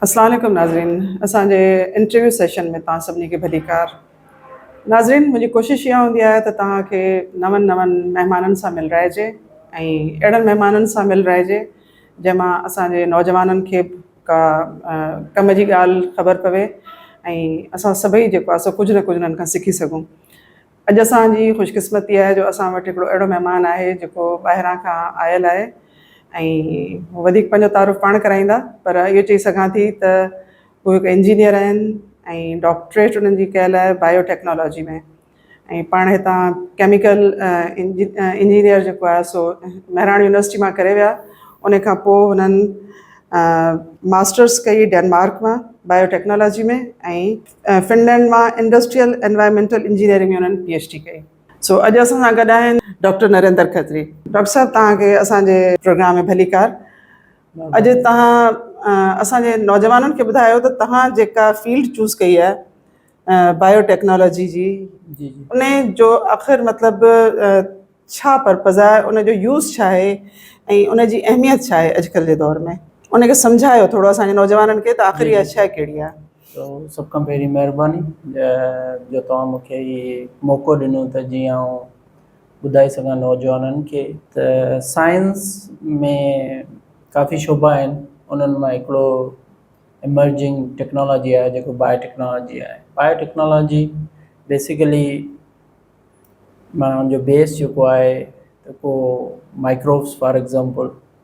السلام عليڪم ناظرين اسان جي انٽرويو سيشن ۾ توهان سڀني کي ڀليڪار ناظرين منهنجي ڪوشش اها هوندي آهي ته توهان کي نون نون مهمانن سان ملرائجي ۽ اهڙن مهمانن سان ملرائجي جنهن مان اسان جي نوجوانن کي به ڪا ڪم جي ڳالهه خبر پوي ۽ اسان سڀئي جيڪو آهي سو ڪجهه نه ڪجهه انهن کان سکي سگهون اڄ اسان جي خوش قسمتي آهي جو اسان وٽ هڪڙو اهڙو مهمان آهي جيڪو ٻاهران کان آيل آهي ۽ وڌيڪ پنهنجو تعارف پاڻ ڪرائيندا پر اهو چئي سگهان ٿي ته هو هڪ انجنيئر آهن ۽ ڊاڪٽريٽ انهن جي ڪيل آهي بايو ٽيڪنالاجي ۾ ۽ پاڻ هتان ڪيميڪل انجنيئر جيڪو آهي سو مهراڻ يونيورسٽي مان ڪري ويا ان کان پوء هنن ماسٽرس ڪئي ڊينمارڪ مان بايو ٽيڪنالاجي ۾ ۽ فنلينڊ مان انڊسٽريل انوائرمينٽل انجنيئرنگ ۾ انهن پي ايڇ ڊي ڪئي. سو اڄ اسان سان گڏ آهن ڊاڪٽر نريندر کتري. ڊاڪٽر صاحب توهان کي اسان جي پروگرام ۾ ڀليڪار. اڄ توهان اسان جي نوجوانن کي ٻڌايو ته توهان جيڪا فيلڊ چوز ڪئي آهي بايو ٽيڪنالاجي جي ان جو آخر مطلب ڇا پرپز آهي ان جو يوز ڇا آهي ۽ ان جي اهميت ڇا آهي اڄڪلهه جي دور ۾ ان کي سمجهايو ٿورو اسان جي نوجوانن کي ته آخر اها شئي ڪهڙي آهي. سو سڀ کان پهرين مهرباني جو توهان مون کي هي موقعو ڏنو ته جيئن آئون ٻڌائي سگهان نوجوانن کي ته سائنس ۾ ڪافي شعبا آهن انهن مان هڪڙو ايمرجنگ ٽيڪنالاجي آهي جيڪو بايو ٽيڪنالاجي آهي بايو ٽيڪنالاجي بيسڪلي معنيٰ ان جو بيس جيڪو آهي ته ڪو مائڪروبس فار ايگزامپل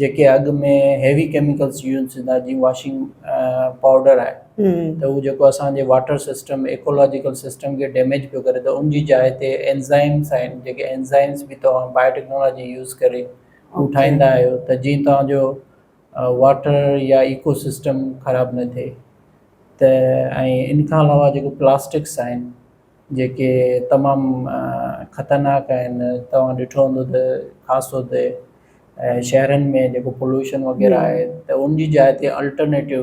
جيڪي اڳ ۾ هيوي ڪيميڪلس يوز ٿيندا جيئن واشنگ پائوڊر آهي ته هو جيڪو اسان جي واٽر سسٽم ايڪولاجيڪل سسٽم کي ڊيميج پيو ڪري ته ان جي جاء تي اينزائمس آهن جيڪي اينزائمس به توهان بايو ٽيڪنالاجي يوز ڪري هو ٺاهيندا آهيو ته جيئن توهان جو واٽر يا ايڪو سسٽم خراب نه ٿئي ته ۽ ان کان علاوه جيڪو پلاسٽڪس آهن جيڪي تمام خطرناڪ آهن توهان ڏٺو هوندو ته خاص طور تي شهرن ۾ جيڪو پولوشن وغيره آهي ته ان جي جاء تي الٽرنيٽو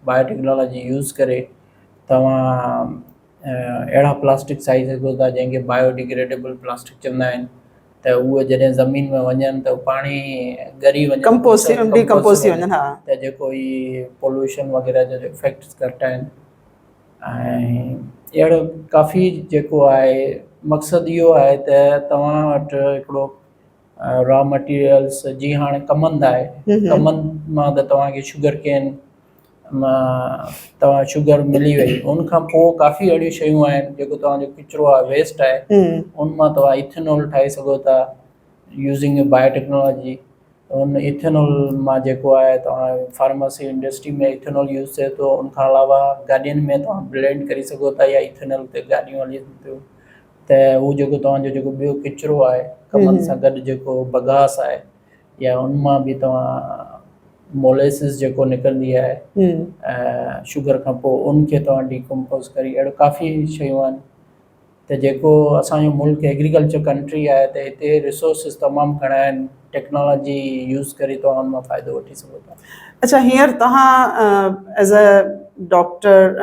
بايو ٽيڪنالاجي يوز ڪري توهان اهڙا پلاسٽڪ سائي سگهو ٿا جنهن کي بايو ڊگريڊبل پلاسٽڪ چوندا آهن ته اهي جڏهن زمين ۾ وڃن ته پاڻي ڳري وڃن ڪمپوز ٿي ڊيڪمپوز ٿي وڃن ها ته جيڪو هي پولوشن وغيره جا جو افيڪٽس گهٽ آهن ۽ اهڙو ڪافي جيڪو آهي مقصد اهو آهي ته توهان وٽ هڪڙو را مٽيريلس جي هاڻي ڪمند آهي ڪمند مان ته توهان کي شگر ڪين مان توهان شگر ملي وئي ان کان پوء ڪافي اهڙيون شيون آهن جيڪو توهان جو ڪچرو آهي ويسٽ آهي ان مان توهان ايٿنول ٺاهي سگهو ٿا يوزنگ بايو ٽيڪنالاجي هن ايٿينول مان جيڪو آهي توهان فارماسي انڊسٽري ۾ ايٿينول يوز ٿئي ٿو ان کان علاوه گاڏين ۾ توهان بلينڊ ڪري سگهو ٿا يا ايٿينول تي گاڏيون هلين ٿيون ته هو جيڪو توهان جو جيڪو ٻيو ڪچرو آهي ڪمند سان گڏ جيڪو بگاس آهي يا ان مان به توهان موليسز جيڪو نڪرندي آهي شوگر کان پوء ان کي توهان ڊيڪمپوز ڪري اهڙو ڪافي شيون آهن ته جيڪو اسان جو ملڪ ايگريڪلچر ڪنٽري آهي ته هتي ريسورسز تمام گهڻا آهن ٽيڪنالاجي يوز ڪري توهان ان مان فائدو وٺي سگهو ٿا. اڇا هينئر توهان ايز اي ڊاڪٽر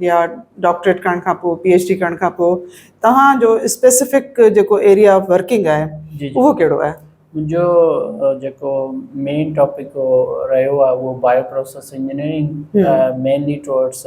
يا ڊاڪٽريٽ ڪرڻ کان پوء پي ايڇ ڊي ڪرڻ کان پوء توهان جو اسپيسفڪ جيڪو ايريا آف ورڪنگ آهي اهو ڪهڙو آهي؟ منهنجو جيڪو مين ٽاپڪ رهيو آهي اهو bioprocess engineering mainly towards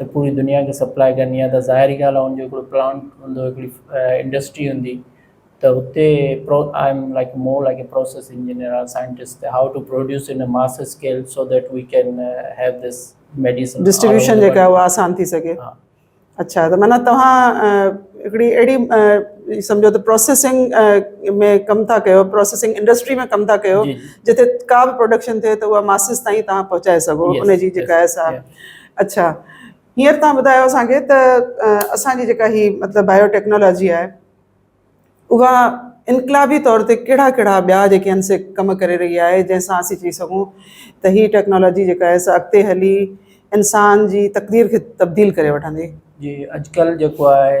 ته پوري دنيا کي سپلاء ڪرڻي آهي ته ظاهري ڳالهه آهي ان جو هڪڙو پلانٽ هوندو هڪڙي انڊسٽري هوندي ته هتي پرو I am like more like a process engineer or scientist ته how to produce in mass scale so that we can have this medicine distribution جيڪا اها آسان ٿي سگهي ها اڇا ته معنيٰ توهان هڪڙي اهڙي سمجهو ته پروسيسنگ ۾ ڪم ٿا ڪيو پروسيسنگ انڊسٽري ۾ ڪم ٿا ڪيو جتي ڪا به پروڊڪشن ٿئي ته اها ماسز تائين توهان پهچائي سگهو ان جي جيڪا آهي سا اڇا هينئر توهان ٻڌايو اسان کي ته اسان جي جيڪا هي مطلب بايو ٽيڪنالاجي آهي اها انقلابي طور تي ڪهڙا ڪهڙا ٻيا جيڪي آهن سي ڪم ڪري رهي آهي جنهن سان اسين چئي سگهون ته هي ٽيڪنالاجي جيڪا آهي سا اڳتي هلي انسان جي تقدير کي تبديل ڪري وٺندي جي اڄڪلهه جيڪو آهي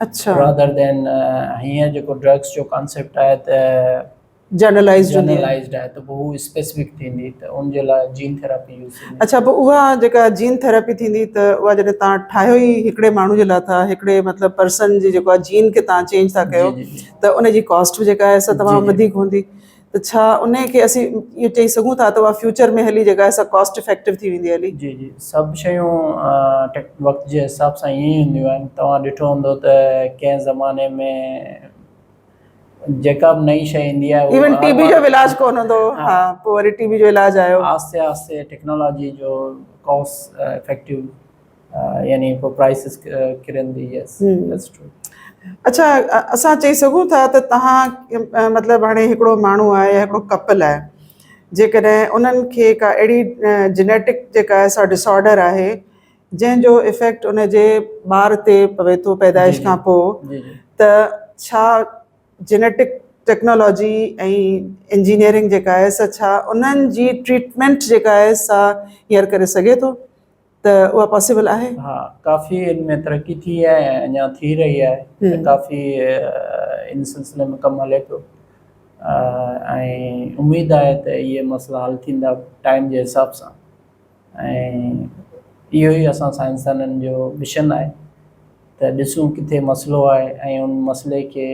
اڇا رادر دين هينئر جيڪو ڊرگس جو ڪانسيپٽ آهي ته جنرلائزڊ هوندي جنرلائزڊ آهي ته پوء هو اسپيسفڪ ٿيندي ته ان جي لاء جين ٿيراپي يوز ٿيندي اڇا پوء اها جيڪا جين ٿيراپي ٿيندي ته اها جڏهن تان ٺاهيو ئي هڪڙي ماڻهو جي لاء ٿا هڪڙي مطلب پرسن جي جيڪو جين کي تان چينج ٿا ڪيو ته ان جي ڪاسٽ به جيڪا آهي سا تمام وڌيڪ هوندي ته ڇا انهي کي اسين اهو چئي سگهون ٿا ته اها فيوچر ۾ هلي جيڪا سا ڪاسٽ افيڪٽو ٿي ويندي هلي؟ جي جي سڀ شيون وقت جي حساب سان ائين ئي هونديون آهن توهان ڏٺو هوندو ته ڪنهن زماني ۾ جيڪا به نئي شيء ايندي آهي ايون ٽي بي جو به علاج ڪونه هوندو هو ها پوء وري ٽي بي جو علاج آيو آهستي آهستي ٽيڪنالاجي جو ڪاسٽ افيڪٽو يعني پوء پرائسز ڪرن ٿي يس ذيٽس ٽرو اچھا اسان چئي سگھون ٿا ته تهان مطلب هاڻي هڪڙو ماڻهو آهي يا هڪڙو ڪپل آهي جيڪڏهن انهن کي ڪا اهڙي جينيٽڪ جيڪا سا ڊسآرڊر آهي جنهن جو افيڪٽ ان جي ٻار تي پوي ٿو پيدائش کان پوء ته ڇا جينيٽڪ ٽيڪنالاجي ۽ انجنيئرنگ جيڪا آهي سا ڇا انهن جي ٽريٽمينٽ جيڪا آهي سا هيئر ڪري سگھي ٿو ته اها پاسيبل آهي؟ ها ڪافي ان ۾ ترقي ٿي آهي ۽ اڃا ٿي رهي آهي ته ڪافي ان سلسلي ۾ ڪم هلي پيو ۽ اميد آهي ته اهي مسئلا حل ٿيندا ٽائيم جي حساب سان ۽ اهو ئي اسان سائنسدانن جو مشن آهي ته ڏسون ڪٿي مسئلو آهي ۽ ان مسئلي کي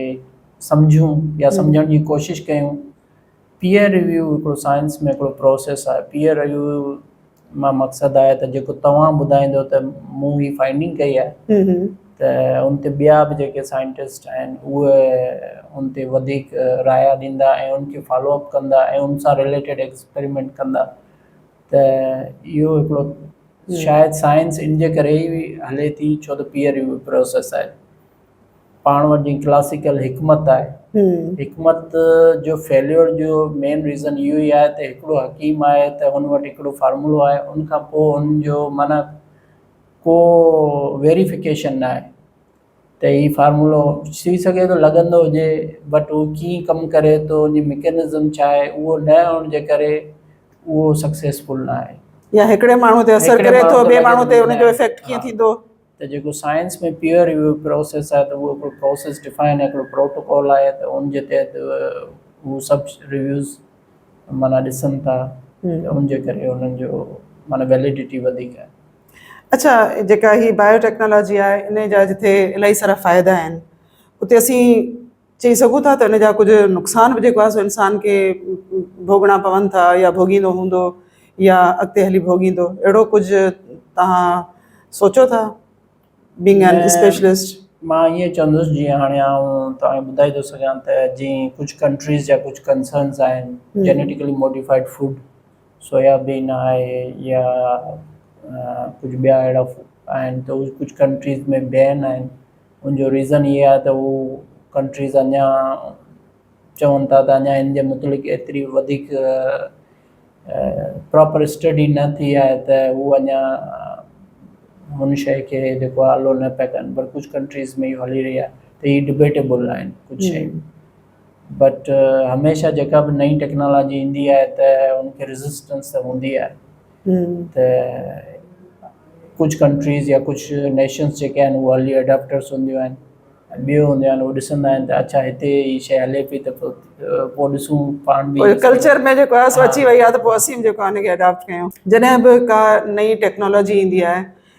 سمجهون يا سمجهڻ جي ڪوشش ڪيون پيئر ريويو هڪڙو سائنس ۾ هڪڙو پروسيس آهي پيئر ريويو مان مقصد آهي ته جيڪو توهان ٻڌائيندو ته مون هي فائنڊنگ ڪئي آهي ته ان تي ٻيا به جيڪي سائنٽسٽ آهن اهي ان تي وڌيڪ رايا ڏيندا ۽ ان کي فالو اپ ڪندا ۽ ان سان رليٽيڊ ايڪسپريمينٽ ڪندا ته اهو هڪڙو شايد سائنس ان جي ڪري ئي هلي ٿي ڇو ته پيئر ريويو پروسيس آهي پاڻ وٽ جي ڪلاسيڪل حڪمت آهي حڪمت جو فيليور جو مين ريزن اهو ئي آهي ته هڪڙو حڪيم آهي ته هن وٽ هڪڙو فارمولو آهي ان کان پوء هن جو معنيٰ ڪو ويريفڪيشن نه آهي ته هي فارمولو ٿي سگهي ٿو لڳندو هجي بٽ هو ڪيئن ڪم ڪري ٿو ان جي مڪينزم ڇا آهي اهو نه هئڻ جي ڪري اهو سڪسيسفل نه آهي يا هڪڙي ماڻهو تي اثر ڪري ٿو ٻي ماڻهو تي ان جو افيڪٽ ڪيئن ٿيندو ته جيڪو سائنس ۾ پيئر ريويو پروسيس آهي ته اهو هڪڙو پروسيس ڊفائن آهي هڪڙو پروٽوڪول آهي ته ان جي تحت هو سڀ ريويوز معنيٰ ڏسن ٿا ته ان جي ڪري انهن جو معنيٰ ويليڊيٽي وڌيڪ آهي. اڇا جيڪا هي بايو ٽيڪنالاجي آهي انهي جا جتي الائي سارا فائدا آهن اتي اسين چئي سگهون ٿا ته ان جا ڪجهه نقصان به جيڪو آهي سو انسان کي ڀوڳڻا پون ٿا يا ڀوڳيندو هوندو يا اڳتي هلي ڀوڳيندو اهڙو ڪجهه توهان سوچو ٿا بينگ ان اسپيشلسٽ؟ مان ائين چوندس جيئن هاڻي آئون توهان کي ٻڌائي ٿو سگهان ته جيئن ڪجهه ڪنٽريز جا ڪجهه ڪنسرنز آهن genetically modified food soya bean آهي يا ڪجهه ٻيا اهڙا آهن ته ڪجهه ڪنٽريز ۾ بين آهن ان جو ريزن اهي آهي ته هو ڪنٽريز اڃا چون ٿا ته اڃا ان جي متعلق ايتري وڌيڪ پراپر اسٽڊي نه ٿي آهي ته هو اڃا هن شيء کي جيڪو آلو نه پيا ڪن پر ڪجهه ڪنٽريز ۾ اهو هلي رهي آهي ته هي ڊبيٽيبل آهن ڪجهه شيون بٽ هميشه جيڪا به نئين ٽيڪنالاجي ايندي آهي ته ان کي ريزسٽنس ته هوندي آهي ته ڪجهه ڪنٽريز يا ڪجهه نيشنس جيڪي آهن هو ارلي اڊاپٽرس هونديون آهن ٻيو هونديون آهن هو ڏسندا آهن ته اڇا هتي هي شي هلي پئي ته پوء ڏسون پاڻ به ڪلچر ۾ جيڪو آهي سو اچي وئي آهي ته پوء اسين به جيڪو آهي ان کي اڊاپٽ ڪيون جڏهن به ڪا نئين ٽيڪنالاجي ايندي آهي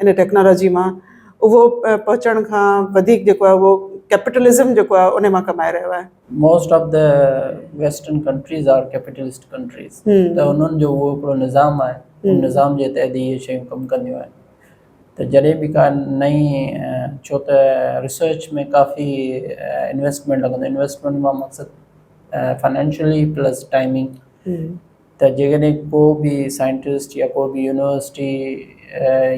ان ٽيڪنالاجي مان اهو پهچڻ کان وڌيڪ جيڪو آهي اهو ڪيپيٽلزم جيڪو آهي ان مان ڪمائي رهيو آهي. Most of the western countries are capitalist countries ته انهن جو اهو هڪڙو نظام آهي ان نظام جي تحت ئي اهي شيون ڪم ڪنديون آهن ته جڏهن به ڪا نئين ڇو ته ريسرچ ۾ ڪافي انويسٽمينٽ لڳندو انويسٽمينٽ مان مقصد فنانشلي پلس ٽائمنگ ته جيڪڏهن ڪو به سائنٽسٽ يا ڪو به يونيورسٽي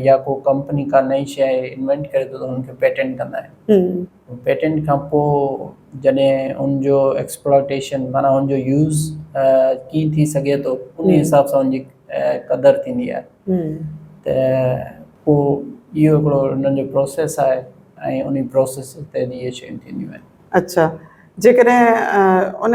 يا ڪو ڪمپني ڪا نئين شيء انوينٽ ڪري ٿو ته ان کي پيٽنٽ ڪندا آهن پيٽنٽ کان پوء جڏهن ان جو ايڪسپلوٽيشن معنيٰ ان جو يوز ڪيئن ٿي سگهي ٿو ان حساب سان ان جي قدر ٿيندي آهي ته پوء اهو هڪڙو انهن جو پروسيس آهي ۽ ان پروسيس تحت اهي شيون ٿينديون آهن اڇا جيڪڏهن ان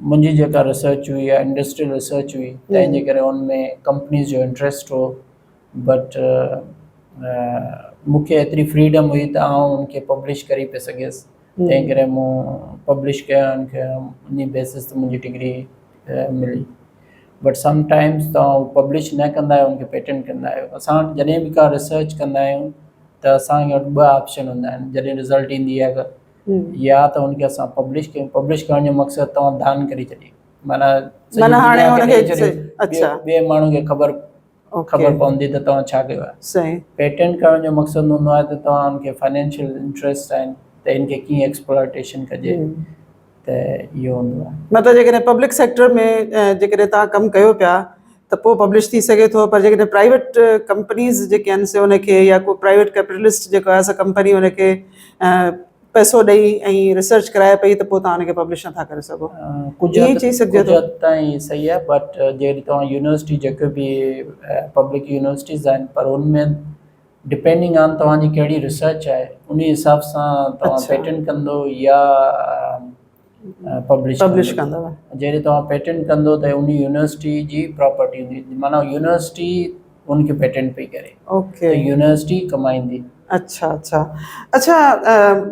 منهنجي جيڪا ريسرچ هئي يا انڊسٽريل ريسرچ هئي تنهن جي ڪري ان ۾ ڪمپنيز جو انٽرسٽ هو بٽ مون کي ايتري فريڊم هئي ته آئون ان کي پبلش ڪري پئي سگهيس تنهن ڪري مون پبلش ڪيا ان کي انهي بيسس تي منهنجي ڊگري ملي بٽ سم ٽائمز تون پبلش نه ڪندا آهيو ان کي پيٽنٽ ڪندا آهيو اسان وٽ جڏهن به ڪا ريسرچ ڪندا آهيون ته اسان وٽ ٻه آپشن هوندا آهن جڏهن رزلٽ ايندي آهي يا ته ان کي اسان پبلش ڪيون پبلش ڪرڻ جو مقصد توهان دان ڪري ڇڏي معنيٰ معنيٰ هاڻي هن کي اچھا ٻي ماڻهو کي خبر خبر پوندي ته توهان ڇا ڪيو آهي صحيح پيٽنٽ ڪرڻ جو مقصد هوندو آهي ته توهان ان کي فنانشل انٽريسٽ آهن ته ان کي ڪيئن ايڪسپلوٽيشن ڪجي ته اهو هوندو آهي مطلب جيڪڏهن پبلڪ سيڪٽر ۾ جيڪڏهن تان ڪم ڪيو پيا ته پوء پبلش ٿي سگهي ٿو پر جيڪڏهن پرائيويٽ ڪمپنيز جيڪي آهن سي ان کي يا ڪو پرائيويٽ ڪيپيٽلسٽ جيڪو آهي سا ڪمپني ان کي پئسو ڏئي ۽ ريسرچ ڪرائي پئي ته پوء تان ان کي پبلش نٿا ڪري سگهو ڪجهه ائين چئي سگهجي ٿو ڪجهه تائين صحيح آهي بٽ جيڪڏهن توهان يونيورسٽي جيڪي به پبلڪ يونيورسٽيز آهن پر ان ۾ ڊپينڊنگ آن توهان جي ڪهڙي ريسرچ آهي ان حساب سان توهان پيٽنٽ ڪندو يا پبلش ڪندو جڏهن توهان پيٽنٽ ڪندو ته ان يونيورسٽي جي پراپرٽي هوندي معنيٰ يونيورسٽي ان کي پيٽنٽ پئي ڪري اوڪي يونيورسٽي ڪمائيندي اڇا اڇا اڇا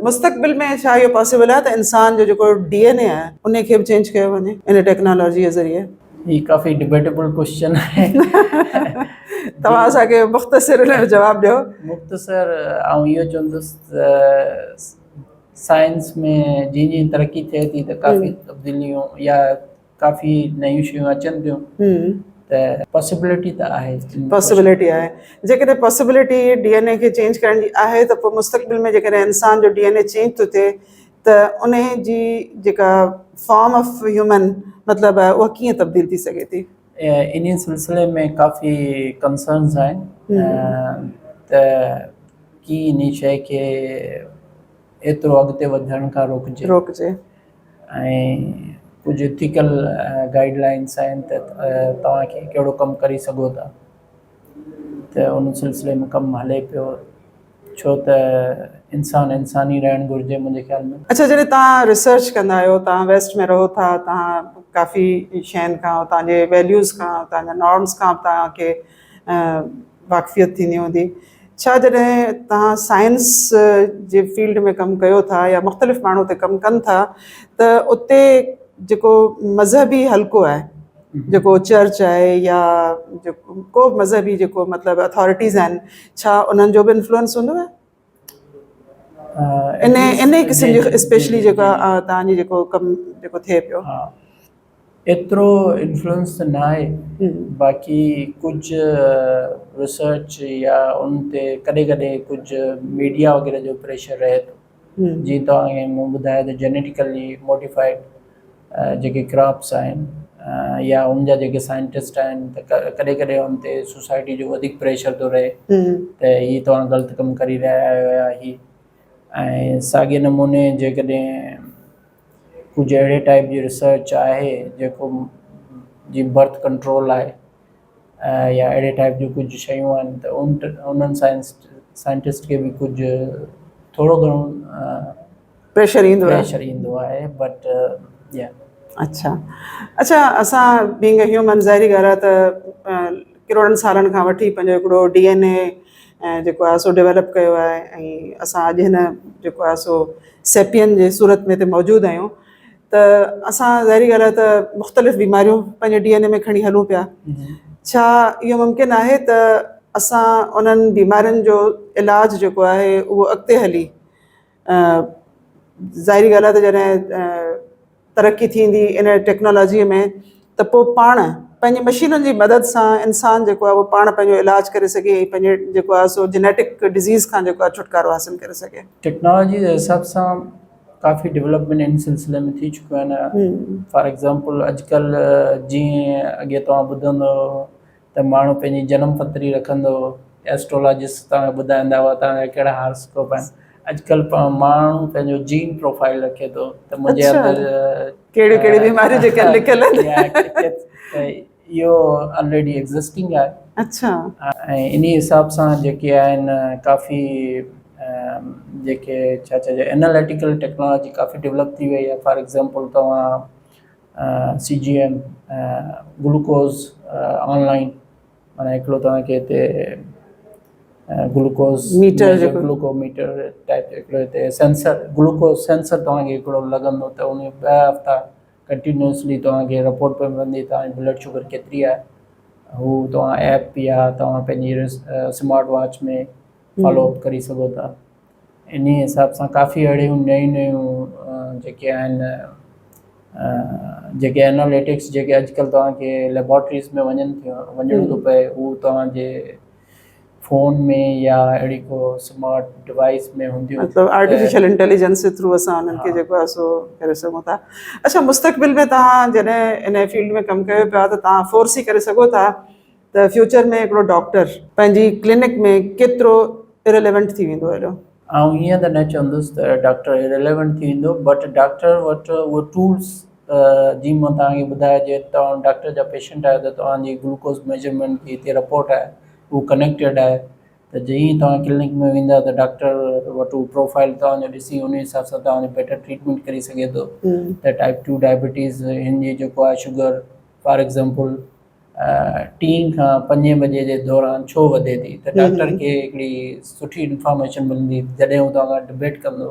مستقبل ۾ ڇا اهو پاسبل آهي ته انسان جو جيڪو ڊي اين اي آهي ان کي به چينج ڪيو وڃي ان ٽيڪنالاجي جي ذريعي هي ڪافي ڊبيٽيبل ڪويشچن آهي توهان اسان کي مختصر ان جو جواب ڏيو مختصر آئون اهو چوندس سائنس ۾ جيئن جيئن ترقي ٿئي ٿي ته ڪافي تبديليون يا ڪافي نيون شيون اچن ٿيون ته پاسبلٽي ته آهي پاسبلٽي آهي جيڪڏهن پاسبلٽي ڊي اين اي کي چينج ڪرڻ جي آهي ته پوء مستقبل ۾ جيڪڏهن انسان جو ڊي اين اي چينج ٿو ٿئي ته انهي جي جيڪا فارم آف هيومن مطلب آهي اها ڪيئن تبديل ٿي سگهي ٿي انهي سلسلي ۾ ڪافي ڪنسرنز آهن ته ڪي انهي شئي کي ايترو اڳتي وڌڻ کان روڪجي روڪجي ۽ ڪجهه اٿيڪل گائيڊ لائنس آهن ته توهان کي ڪهڙو ڪم ڪري سگهو ٿا ته ان سلسلي ۾ ڪم هلي پيو ڇو ته انسان انسان ئي رهڻ گهرجي منهنجي خيال ۾. اڇا جڏهن توهان ريسرچ ڪندا آهيو توهان ويسٽ ۾ رهو ٿا توهان ڪافي شين کان اتان جي ويليوز کان اتان جا نارمس کان توهان کي واقفيت ٿيندي هوندي ڇا جڏهن توهان سائنس جي فيلڊ ۾ ڪم ڪيو ٿا يا مختلف ماڻهو اتي ڪم ڪن ٿا ته اتي جيڪو مذهبي حلقو آهي جيڪو چرچ آهي يا ڪو به مذهبي جيڪو مطلب اٿارٽيز آهن ڇا انهن جو به انفلوئنس هوندو آهي ان ان قسم جي اسپيشلي جيڪا تان جي جيڪو ڪم جيڪو ٿئي پيو ها ايترو انفلوئنس ته نه آهي باقي ڪجهه ريسرچ يا ان تي ڪڏهن ڪڏهن ڪجهه ميڊيا وغيره جو پريشر رهي ٿو جيئن توهان مون ٻڌايو ته جينيٽيڪلي موڊيفائيڊ جيڪي ڪراپس آهن يا ان جا جيڪي سائنٽسٽ آهن ته ڪڏهن ڪڏهن ان تي سوسائٽي جو وڌيڪ پريشر ٿو رهي ته هي توهان غلط ڪم ڪري رهيا آهيو يا هي ۽ ساڳي نموني جيڪڏهن ڪجهه اهڙي ٽائيپ جي ريسرچ آهي جيڪو جي برٿ ڪنٽرول آهي يا اهڙي ٽائيپ جون ڪجهه شيون آهن ته ان انهن سائنٽسٽ کي به ڪجهه ٿورو گهڻو پريشر ايندو آهي پريشر ايندو آهي بٽ يا اڇا اڇا اسان بينگ اي هيومن ظاهري ڳالهه آهي ته ڪروڙن سالن کان وٺي پنهنجو هڪڙو ڊي اين اي جيڪو آهي سو ڊيولپ ڪيو آهي ۽ اسان اڄ هن جيڪو آهي سو سيپين جي صورت ۾ هتي موجود آهيون ته اسان ظاهري ڳالهه آهي ته مختلف بيماريون پنهنجي ڊي اين اي ۾ کڻي هلون پيا ڇا اهو ممڪن آهي ته اسان انهن بيمارين جو علاج جيڪو آهي اهو اڳتي هلي ظاهري ڳالهه آهي ته جڏهن ترقي ٿيندي ان ٽيڪنالاجيء ۾ ته پوء پاڻ پنهنجي مشينن جي مدد سان انسان جيڪو آهي اهو پاڻ پنهنجو علاج ڪري سگهي ۽ پنهنجي جيڪو آهي سو جينيٽڪ ڊزيز کان جيڪو آهي ڇوٽڪارو حاصل ڪري سگهي ٽيڪنالاجي جي حساب سان ڪافي ڊولپمينٽ ان سلسلي ۾ ٿي چڪيون آهن فار ايگزامپل اڄڪلهه جيئن اڳي توهان ٻڌندا هئا ته ماڻهو پنهنجي جنم پتري رکندو هو ايسٽرولاجسٽ توهان کي ٻڌائيندا هئا توهان کي ڪهڙا هاراسڪوپ آهن اڄڪلهه پاڻ ماڻهو پنهنجو جين پروفائل رکي ٿو ته منهنجي اندر ڪهڙي ڪهڙي بيماري جيڪا لکيل آهن اهو آلريڊي ايگزسٽنگ آهي اڇا ۽ انهي حساب سان جيڪي آهن ڪافي جيڪي ڇا چئجي اناليٽيڪل ٽيڪنالاجي ڪافي ڊيولپ ٿي وئي آهي فار ايگزامپل توهان C G M glucose online معنيٰ هڪڙو توهان کي هتي گلوڪوز ميٽر جيڪو گلوڪو ميٽر ٽائپ هڪڙو هتي سينسر گلوڪوز سينسر توهان کي هڪڙو لڳندو ته ان ٻه هفتا ڪنٽينيوسلي توهان کي رپورٽ پئي ملندي توهان جي بلڊ شگر ڪيتري آهي هو توهان ايپ يا توهان پنهنجي سمارٽ واچ ۾ فالو اپ ڪري سگهو ٿا انهي حساب سان ڪافي اهڙيون نيون نيون جيڪي آهن جيڪي اناليٽڪس جيڪي اڄڪلهه توهان کي ليبارٽريز ۾ وڃن ٿيون وڃڻ ٿو پئي هو توهان جي فون ۾ يا اهڙي ڪو سمارٽ ڊوائيس ۾ هونديون مطلب آرٽيفيشل انٽيليجنس جي ٿرو اسان انهن کي جيڪو آهي سو ڪري سگهون ٿا اڇا مستقبل ۾ توهان جڏهن ان فيلڊ ۾ ڪم ڪيو پيا ته توهان فورسي ڪري سگهو ٿا ته فيوچر ۾ هڪڙو ڊاڪٽر پنهنجي ڪلينڪ ۾ ڪيترو اريليونٽ ٿي ويندو هيڏو. آئون ائين ته نه چوندس ته ڊاڪٽر اريليونٽ ٿي ويندو بٽ ڊاڪٽر وٽ اهو ٽولس جي مان توهان کي ٻڌايان جي توهان ڊاڪٽر جا پيشنٽ آهيو ته توهان جي گلوڪوز ميجرمينٽ جي هتي رپورٽ آهي هو ڪنيڪٽيڊ آهي ته جئين ئي توهان ڪلنڪ ۾ ويندا ته ڊاڪٽر وٽ هو پروفائل توهان جو ڏسي ان حساب سان توهان جو بيٽر ٽريٽمينٽ ڪري سگهي ٿو ته ٽائيپ ٽو ڊائبيٽيز هن جي جيڪو آهي شگر فار ايگزامپل ٽين کان پنجين بجي جي دوران ڇو وڌي ٿي ته ڊاڪٽر کي هڪڙي سٺي انفارميشن ملندي جڏهن هو توهان کان ڊبيٽ ڪندو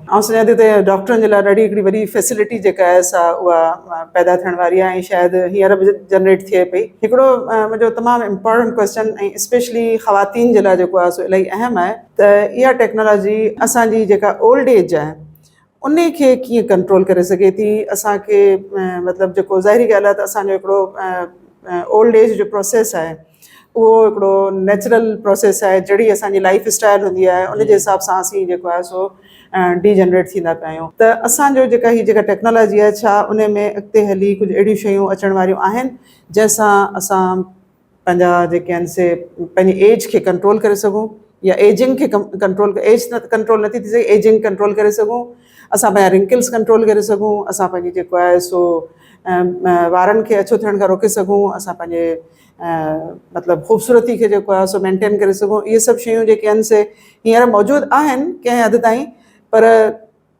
آئون سمجهان ٿي ته ڊاڪٽرن جي لاء ڏاڍي هڪڙي وڏي فيسلٽي جيڪا آهي سا اها پيدا ٿيڻ واري آهي ۽ شايد هينئر به جنريٽ ٿئي پئي. هڪڙو منهنجو تمام امپارٽنٽ ڪويسچن ۽ اسپيشلي خواتين جي لاء جيڪو آهي سو الاهي اهم آهي ته اها ٽيڪنالاجي اسان جي جيڪا اولڊ ايج آهي ان کي ڪيئن ڪنٽرول ڪري سگهي ٿي اسان کي مطلب جيڪو ظاهري ڳالهه آهي ته اسان جو هڪڙو اولڊ ايج جو پروسيس آهي اهو هڪڙو نيچرل پروسيس آهي جهڙي اسانجي لائف اسٽائل هوندي آهي ان جي حساب سان اسين جيڪو آهي سو ڊي جنريٽ ٿيندا پيا آهيون ته اسانجو جيڪا هي جيڪا ٽيڪنالاجي آهي ڇا ان ۾ اڳتي هلي ڪجهه اهڙيون شيون اچڻ واريون آهن جنهن سان اسان پنهنجا جيڪي آهن سي پنهنجي ايج کي ڪنٽرول ڪري سگهون يا ايجنگ کي ڪنٽرول ايج ته ڪنٽرول نٿي ٿي سگهي ايجنگ ڪنٽرول ڪري سگهون اسان پنهنجا رنڪلس ڪنٽرول ڪري سگهون اسان پنهنجي جيڪو آهي سو وارن کي اڇو ٿيڻ کان روڪي سگهون اسان پنهنجي مطلب خوبصورتي کي جيڪو آهي سو مينٽين ڪري سگهون اهي سڀ شيون جيڪي آهن سي هينئر موجود آهن ڪنهن حد تائين پر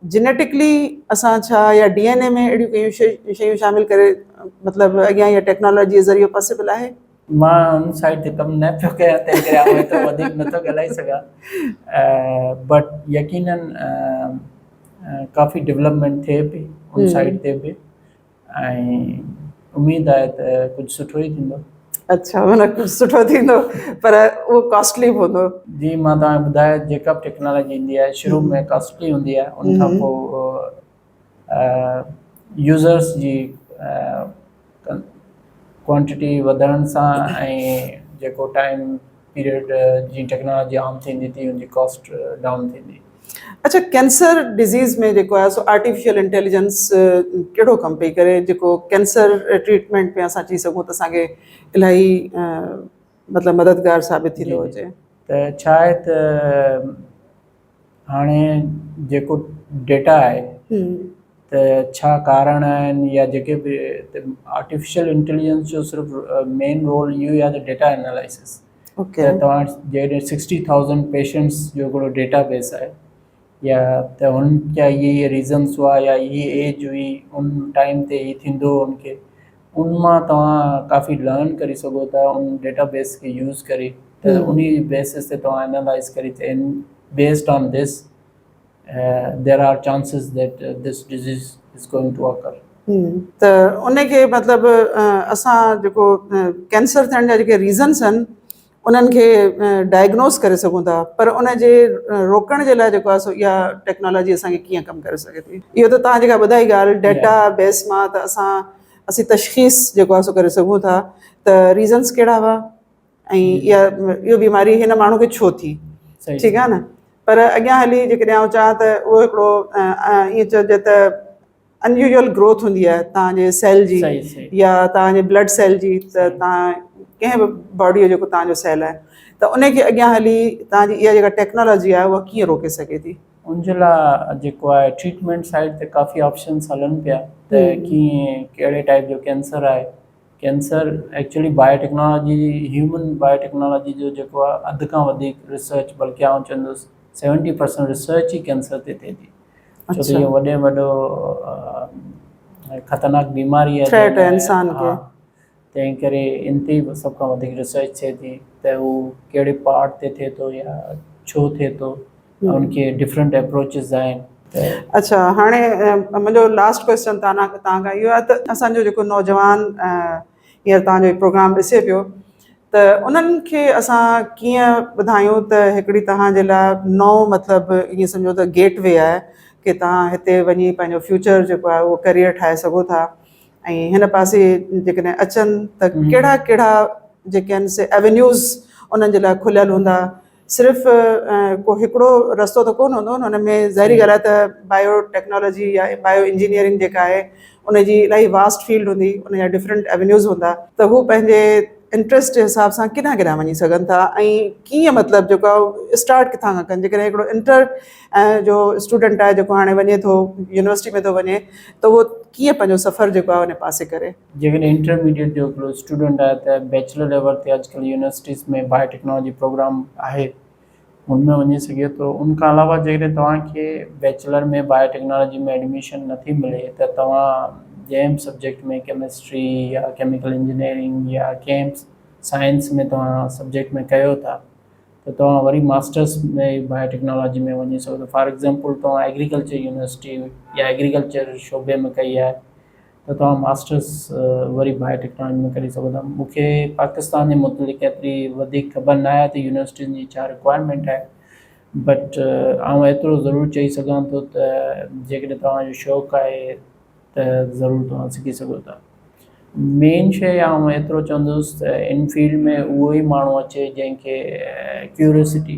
جينيٽڪلي اسان ڇا يا ڊي اين اي ۾ اهڙيون ڪيون شيون شيون شامل ڪري مطلب اڳيان يا ٽيڪنالاجي ذريعي پاسبل آهي مان ان سائيڊ تي ڪم نه پيو ڪيان تنهن ڪري آئون ايترو وڌيڪ نٿو ڳالهائي سگهان بٽ يقينن ڪافي ڊيولپمينٽ ٿئي پئي ان سائيڊ تي به ۽ اميد آهي ته ڪجهه سٺو ئي ٿيندو. اڇا معنيٰ ڪجهه سٺو ٿيندو پر اهو ڪاسٽلي به هوندو. جي مان توهان کي ٻڌايو جيڪا به ٽيڪنالاجي ايندي آهي شروع ۾ ڪاسٽلي هوندي آهي ان کان پوء يوزرس جي ڪوانٽٽي وڌڻ سان ۽ جيڪو ٽائيم پيريڊ جي ٽيڪنالاجي عام ٿيندي تي ان جي ڪاسٽ ڊائون ٿيندي. اڇا ڪينسر ڊزيز ۾ جيڪو آهي سو آرٽيفيشل انٽيليجنس ڪهڙو ڪم پئي ڪري جيڪو ڪينسر ٽريٽمينٽ ۾ اسان چئي سگهون ته اسانکي الاهي مطلب مددگار ثابت ٿيندو هجي. ته ڇا آهي ته هاڻي جيڪو ڊيٽا آهي ته ڇا ڪارڻ آهن يا جيڪي به آرٽيفيشل انٽيليجنس جو صرف مين رول اهو آهي ته ڊيٽا انالائسس ته توهان جيڪڏهن سڪسٽي ٿائوزنڊ پيشنٽس جو هڪڙو ڊيٽا بيس آهي يا ته هن جا اهي اهي ريزنس هئا يا اهي ايج هئي ان ٽائيم تي هي ٿيندو هو ان کي ان مان توهان ڪافي لرن ڪري سگهو ٿا ان ڊيٽا بيس کي يوز ڪري ته ان بيسس تي توهان انالائز ڪري ته ان based on this there are chances that this disease is going to occur ته ان کي مطلب اسان جيڪو ڪينسر ٿيڻ جا جيڪي ريزنس آهن انهن کي ڊائگنوز ڪري سگهون ٿا پر ان جي روڪڻ جي لاء جيڪو آهي سو اها ٽيڪنالاجي اسان کي ڪيئن ڪم ڪري سگهي ٿي اهو ته توهان جيڪا ٻڌائي ڳالهه ڊيٽا بيس مان ته اسان اسين تشخيص جيڪو آهي سو ڪري سگهون ٿا ته ريزنس ڪهڙا هئا ۽ اها اهو بيماري هن ماڻهو کي ڇو ٿي ٺيڪ آهي نه پر اڳيان هلي جيڪڏهن آئون چاهان ته اهو هڪڙو ائين چئجي ته انيوزل گروٿ هوندي آهي توهان جي سيل جي يا توهان جي بلڊ سيل جي ته توهان ڪنهن به باڊي جو جيڪو توهان جو سيل آهي ته ان کي اڳيان هلي توهان جي اها جيڪا ٽيڪنالاجي آهي اها ڪيئن روڪي سگهي ٿي ان جي لاء جيڪو آهي ٽريٽمينٽ سائيڊ تي ڪافي آپشنس هلن پيا ته ڪيئن ڪهڙي ٽائيپ جو ڪينسر آهي cancer actually biotechnology human biotechnology جو جيڪو آهي اڌ کان وڌيڪ ريسرچ بلڪه آئون چوندس سيونٽي پرسنٽ ريسرچ ئي ڪينسر تي ٿئي ٿي ڇو ته اهو وڏي ۾ وڏو خطرناڪ بيماري آهي ٿريٽ آهي انسان کي. تنهن ڪري ان تي به سڀ کان وڌيڪ ريسرچ ٿئي ٿي ته هو ڪهڙي پارٽ تي ٿئي ٿو يا ڇو ٿئي ٿو ان کي ڊفرنٽ اپروچز آهن اڇا هاڻي منهنجو لاسٽ ڪويسچن تانان تان کان اهو آهي ته اسان جو جيڪو نوجوان هينئر توهان جو هي پروگرام ڏسي پيو ته انهن کي اسان ڪيئن ٻڌايون ته هڪڙي توهان جي لاء نئون مطلب ائين سمجهو ته گيٽ وي آهي ڪي توهان هتي وڃي پنهنجو فيوچر جيڪو آهي اهو ڪيريئر ٺاهي سگهو ٿا ۽ هن پاسي جيڪڏهن اچن ته ڪهڙا ڪهڙا جيڪي آهن سي اوينيوز انهن جي لاء کليل هوندا صرف ڪو هڪڙو رستو ته ڪونه هوندو هن ۾ ظاهري ڳالهه آهي ته بايو ٽيڪنالاجي يا بايو انجنيئرنگ جيڪا آهي ان جي الاهي واسٽ فيلڊ هوندي ان جا ڊفرنٽ ايونيوز هوندا ته هو پنهنجي انٽرسٽ جي حساب سان ڪيڏانهن ڪيڏانهن وڃي سگهن ٿا ۽ ڪيئن مطلب جيڪو آهي اسٽارٽ ڪٿان کان ڪن جيڪڏهن هڪڙو انٽر جو اسٽوڊنٽ آهي جيڪو هاڻي وڃي ٿو يونيورسٽي ۾ ٿو وڃي ته هو ڪيئن پنهنجو سفر جيڪو آهي ان پاسي ڪري جيڪڏهن انٽرميڊيٽ جو هڪڙو اسٽوڊنٽ آهي ته بيچلر ليول تي اڄ ڪلهه يونيورسٽيز ۾ بايو ٽيڪنالاجي پروگرام آهي ان ۾ وڃي سگهي ٿو ان کان علاوه جيڪڏهن توهان کي بيچلر ۾ بايو ٽيڪنالاجي ۾ ايڊميشن نه ٿي ملي ته توهان جنهن به سبجيڪٽ ۾ ڪيمسٽري يا ڪيميڪل انجنيئرنگ يا ڪنهن به سائنس ۾ توهان سبجيڪٽ ۾ ڪيو ٿا ته توهان وري ماسٽرس ۾ بايو ٽيڪنالاجي ۾ وڃي سگهو ٿا فار ايگزامپل توهان ايگريڪلچر يونيورسٽي يا ايگريڪلچر شعبي ۾ ڪئي آهي ته توهان ماسٽرس وري بايو ٽيڪنالاجي ۾ ڪري سگهو ٿا. مون کي پاڪستان جي متعلق ايتري وڌيڪ خبر نه آهي ته يونيورسٽين جي ڇا رڪوائرمينٽ آهي بٽ آئون ايترو ضرور چئي سگهان ٿو ته جيڪڏهن توهان جو شوق آهي ته ضرور توهان سکي سگهو ٿا. مين شيء آئون ايترو چوندس ته ان فيلڊ ۾ اهو ئي ماڻهو اچي جنهن کي ڪيوريوسٽي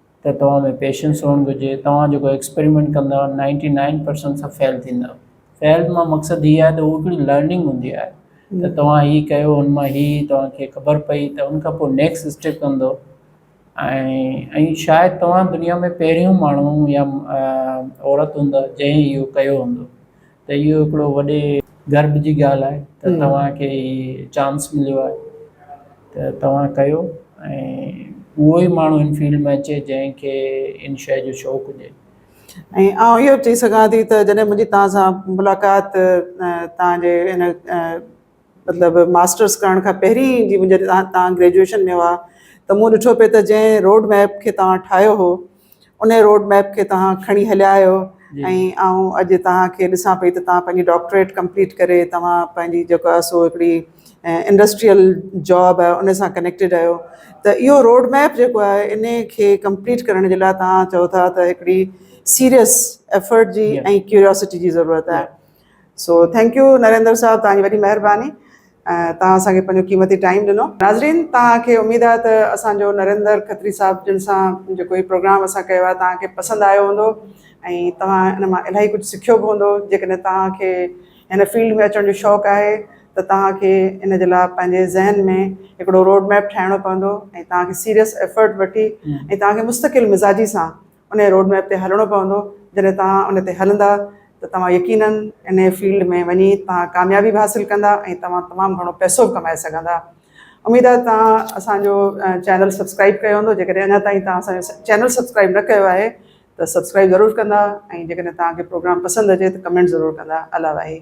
ته توهان ۾ پيشنس هئڻ گهرجي، توهان جيڪو ايڪسپريمينٽ ڪندا نائنٽي نائن پرسنٽ سڀ فيل ٿيندا، فيل مان مقصد هي آهي ته هو هڪڙي لرننگ هوندي آهي ته توهان هي ڪيو ان مان هي توهان کي خبر پئي ته ان کان پوء نيڪسٽ اسٽيپ ڪندو ۽ شايد توهان دنيا ۾ پهريون ماڻهو يا عورت هوندا جنهن اهو ڪيو هوندو. ته اهو هڪڙو وڏي گرب جي ڳالهه آهي ته توهان کي هي چانس مليو آهي ته توهان ڪيو ۽ اهو ئي ماڻهو هن فيلڊ ۾ اچي جنهن کي ان شيء جو شوق هجي. ۽ آئون اهو چئي سگهان ٿي ته جڏهن منهنجي توهان سان ملاقات توهان جي ان مطلب ماسٽرس ڪرڻ کان پهرين جي منهنجي توهان گريجوئيشن ۾ هئا ته مون ڏٺو پئي ته جنهن روڊ ميپ کي توهان ٺاهيو هو ان روڊ ميپ کي توهان کڻي هليا آهيو ۽ آئون اڄ توهان کي ڏسان پئي ته توهان پنهنجي ڊاڪٽريٽ ڪمپليٽ ڪري توهان پنهنجي جيڪا سو هڪڙي انڊسٽريل جاب آهي ان سان ڪنيڪٽيڊ آهيو ته اهو روڊ ميپ جيڪو آهي ان کي ڪمپليٽ ڪرڻ جي لاء توهان چئو ٿا ته هڪڙي سيريس ايفرٽ جي ۽ ڪيوريوسٽي جي ضرورت آهي سو ٿينڪ يو نريندر صاحب توهان جي وڏي مهرباني ۽ توهان اسان کي پنهنجو قيمتي ٽائيم ڏنو ناظرين توهان کي اميد آهي ته اسان جو نريندر کتري صاحب جن سان جيڪو هي پروگرام اسان ڪيو آهي توهان کي پسند آيو هوندو ۽ توهان ان مان الاهي ڪجهه سکيو به هوندو جيڪڏهن توهان کي هن فيلڊ ۾ اچڻ جو شوق آهي ته توهان کي ان جي لاء پنهنجي ذهن ۾ هڪڙو روڊ ميپ ٺاهڻو پوندو ۽ توهان کي سيريس ايفرٽ وٺي ۽ توهان کي مستقل مزاجي سان انهيء روڊ ميپ تي هلڻو پوندو، جڏهن توهان ان تي هلندا ته توهان يقيناً انهيء فيلڊ ۾ وڃي توهان ڪاميابي به حاصل ڪندا ۽ توهان تمام گهڻو پئسو به ڪمائي سگهندا. اميد آهي ته توهان اسان جو چينل سبسڪرائيب ڪيو هوندو، جيڪڏهن اڃا تائين توهان اسان جو چينل سبسڪرائيب نه ڪيو آهي ته سبسڪرائيب ضرور ڪندا ۽ جيڪڏهن توهان کي پروگرام پسند اچي ته ڪمينٽ ضرور ڪندا. الله واهي.